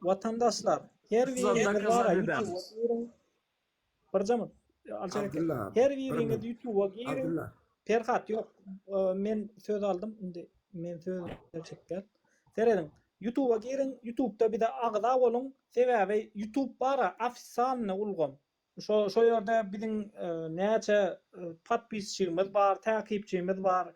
Watandaşlar, her biriňiz bara YouTube-a giriň. Bir jamyt. Her biriňiz YouTube-a giriň. Perhat, ýok, men söz aldym, indi men söz berjek däl. Serediň, YouTube-a giriň, YouTube-da bize agza boluň, sebäbi YouTube bara ofisalny ulgam. Şo şo ýerde biziň näçe podpisçigimiz bar, täkipçimiz bar.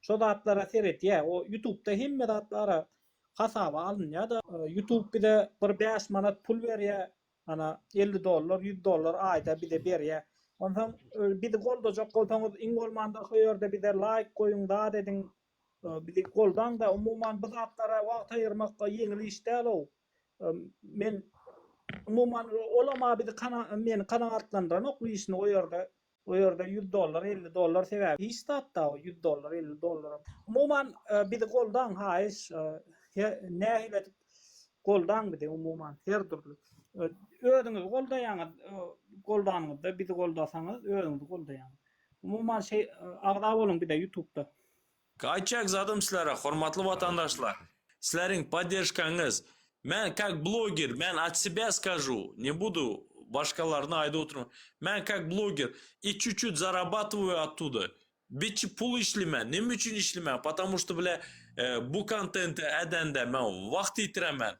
Şo zatlara seredýä. O ýutubda hemme zat bara hasaba alynýa-da. Ýutub bize bir bäş manat pul berýä. Ana, elli dollar, ýüz dollar aýda bize berýä. Onsoň bizi goldajak bolsaňyz, iň bolmanda şo ýerde bize laýk goýuň, zat ediň. Bizi goldaňda umuman bu zatlara wagt aýyrmakda ýeňil iş däl-ow. Men umuman olam-a bizi meni kanagatlandyranok bu işini o ýerde o ýerde ýüz dollar elli dollar sebäbi hiç zat-da o ýüz dollar elli dollaram. Umuman bizi goldaň haýyş he nähili edip goldaň bizi umuman her dürli. Özüňizi goldaýaňyz goldanyňyzda bizi goldasaňyz özüňizi goldaýaňyz. Umuman şeý agza boluň bize ýutubda. Gaýtjak zadym sizlere hormatly watandaşlar sizleriň podderžkaňyz men kak bloger men at sebä skažu ne budu başgalaryny aýdyp oturman men kak bloger i çu çut zarabatowaýu attuda biçi pul işlimen neme üçin işlimen patamu şta bile bu kontente edende men wagt ýitiremen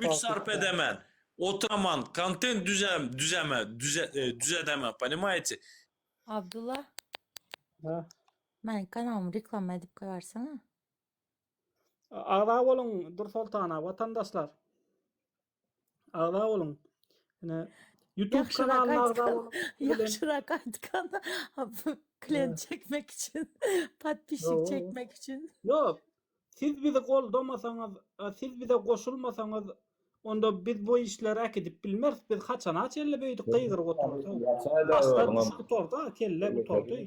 güç sarp edemen Oturaman kontent düzem düzeme düzedeme ponimaýte. Abdulla. Hä. Meniň kanalymy reklama edip goýarsyňa. Agza boluň Dur Soltana watandaşlar. Agza boluň. Ine YouTube kanalyna agza boluň. Ýagşyrak aýtgan. Klient çekmek üçin. Podpisçik çekmek üçin. Ýok. Siz bizi goldamasaňyz, siz bize goşulmasaňyz, onda biz bu işleri äkidip bilmeris, biz haçana çenli beýdip gygyryp oturarys? Başlar düşüp gutardy, kelle gutardy.